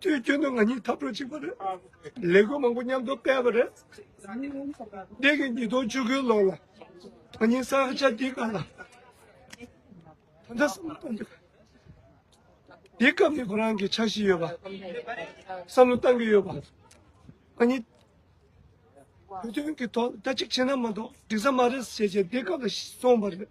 དུས་རྒྱུན་དུ་ང་གཉིས་འཐབ་གྲོགས་གཅིག་པ་རེད། ལས་འགུལ་མང་པོ་མཉམ་དུ་སྤེལ་བ་རེད། འདས་ཀྱི་ཉིས་སྟོང་བཅུ་དགུའི་ལོ་ལ་ང་གཉིས་ས་ཧ་ཅང་འདི་ག་ལ་ད་ལྟ་བསམ་བློ་གཏོང་རྒྱུ། དེའི་སྐབས་ནས་ཁོ་རང་གི་འཆར་གཞི་ཡོད་པ། བསམ་བློ་གཏང་གི་ཡོད་པ། ང་གཉིས་བོད་དོན་གྱི་ཐོག་ལ་ད་ཅིག་བྱས་ན་མ་གཏོགས་འགྲིག་ས་མ་རེད་ཟེར་བྱས་རྗེས་འདས་སྐབས་ལ་སོང་བ་རེད།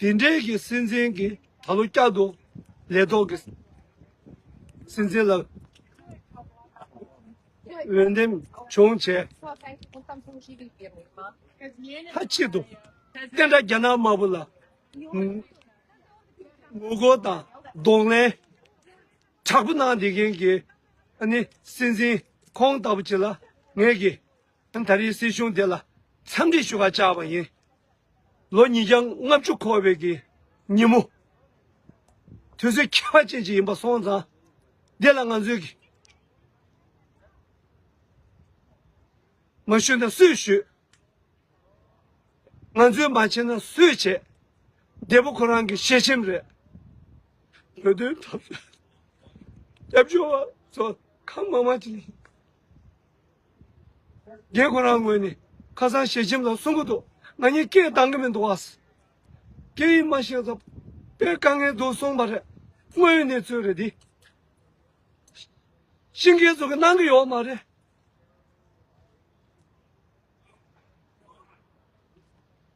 དེ་འབྲེལ་གྱི་སྲིད་འཛིན་གྱིས་ད་ལོ་བསྐྱར་དུ་ལས་ཐོག་གི་སྲིད་འཛིན་ལ་འོས་འདེམས་བྱུང་བྱས། མཐའ་གཅིག་ཏུ་བསྟན་དགྲ་རྒྱ་ནག་དམར་པོ་ལ་ངོ་རྒོལ་དང་གདོང་ལེན་དྲག་པོ་གནང་བསྡད་མཁན་གྱི་སྲིད་འཛིན་ཁོང་ལྟ་བུ་ཅིག་ལ་ངེད་ཀྱིས་ད་རེས་སྲིད་གཞུང་དེ་ལ་འཚམས་འདྲི་ཞུ་ཁ་བཅག་པ་ཡིན། ལོ་ཉིས་བརྒྱ་ལྔ་བཅུ་འཁོར་བའི་གི་ཉིན་མོ། དུས་ཚོད་ཁྱད་པར་ཅན་ཞིག་ཡིན་པ་སོང་ཙང། འདི་ལ་ང་ཚོས་གི་མ་ཞུས་ན་སུས་ཞུས། ང་ཚོས་མ་བྱས་ན་སུས་བྱས། འདས་པོ་ཁོ་རང་གི་ཞལ་ཆེམས་རེད། བོད་དོན་འཐབ་རྩོད་སྐྱབས་བཅོལ་བ་ཚོ་གང་མང་མང་ཅིག་ཡིན། རྒན་ཁོ་རང་ངོས་ནས་ཁ་སང་ཞལ་ཆེམས་ལ་གསུང་གི་འདུག་ང་གཉིས་སྐད་བཏང་གི་མི་འདུག་ཨ། སྐད་ཡིག་མ་ཤེས་ཙམ་པས་དཀའ་ངལ་འདུག་གསུངས་པ་རེད། དངོས་ཡོད་གནས་ཚུལ་རེད་འདི། ཤིང་སྐད་ཚོ་གི་གནང་གི་ཡོད་མ་རེད།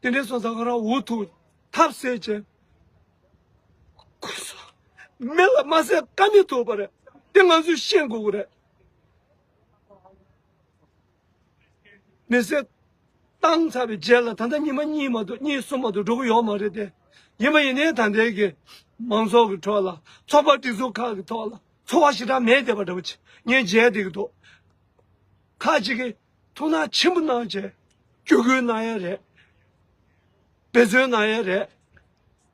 དེ་འདྲའི་སོ་ཟ་ཁོ་རང་འུ་ཐུག་ཐབས་ཟད་ཅན། ཁོ་ཚོ་མི་ལ་མ་ཟད་ཀ་མི་ཐུབ་པ་རེད་དེ་ང་ཚོས་ཤེས་དགོས་གི་རེད། མི་ཚེ་བཏང་ཚར་བའི་རྗེས་ལ་ད་ལྟ་ཉི་མ་གཉིས་མ་གཏོགས་གཉིས་གསུམ་མ་གཏོགས་འགྲོ་གི་ཡོད་མ་རེད་དེ། ཡིན་མ་ཡིན་ནའི་ད་ལྟའི་གི་མང་ཚོགས་ཀྱི་ཁྲོད་ལ་ཚོགས་པ་སྒྲིག་འཛུགས་ཁག་གི་ཐོག་ལ་འཚོ་བ་ཞེ་དྲག་མེད་བསྡད་པ་འདྲ་པོ་ཆེ་ངས་མཇལ་བསྡད་ཀྱི་འདུག་ཁག་གཅིག་གིས་ཐུགས་སྣང་ཆེན་པོ་གནང་བྱས་སྐྱོ་གུས་གནང་ཡས་རེད་འབད་བརྩོན་གནང་ཡས་རེད།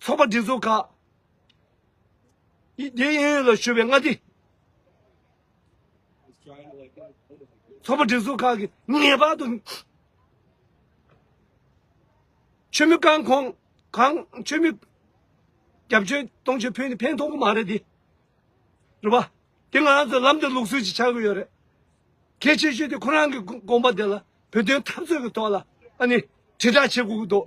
ཚོགས་པ་སྒྲིག་འཛུགས་ཁག་གི་དབྱིན་ཡུལ་ལ་ཞུ་བའི་མངའ་སྡེ། ཚོགས་པ་སྒྲིག་འཛུགས་ཁག་གིས་ངེས་པར་དུ་ཆོས་མི་རྐང་འཁོར་གང་ཆོས་མི་རྒྱབ་སྐྱོར་གཏོང་ཆོས་ཕུད་ནི་ཕན་ཐོག་གི་མ་རེད་དེ། རེད་པ། དེ་ང་ཚོ་ལམ་དུ་ལུགས་སྲོལ་གྱི་ཆགས་ཀྱི་ཡོད་རེད། གལ་ཆེ་ཤོས་དེ་ཁོ་རང་གི་དགོངས་པ་དེ་ལ་བོད་དོན་འཐབ་རྩོད་ཀྱི་ཐོག་ལ་ཨ་ནི་དྲིལ་བསྒྲགས་བྱེད་དགོས་ཀྱི་འདུག།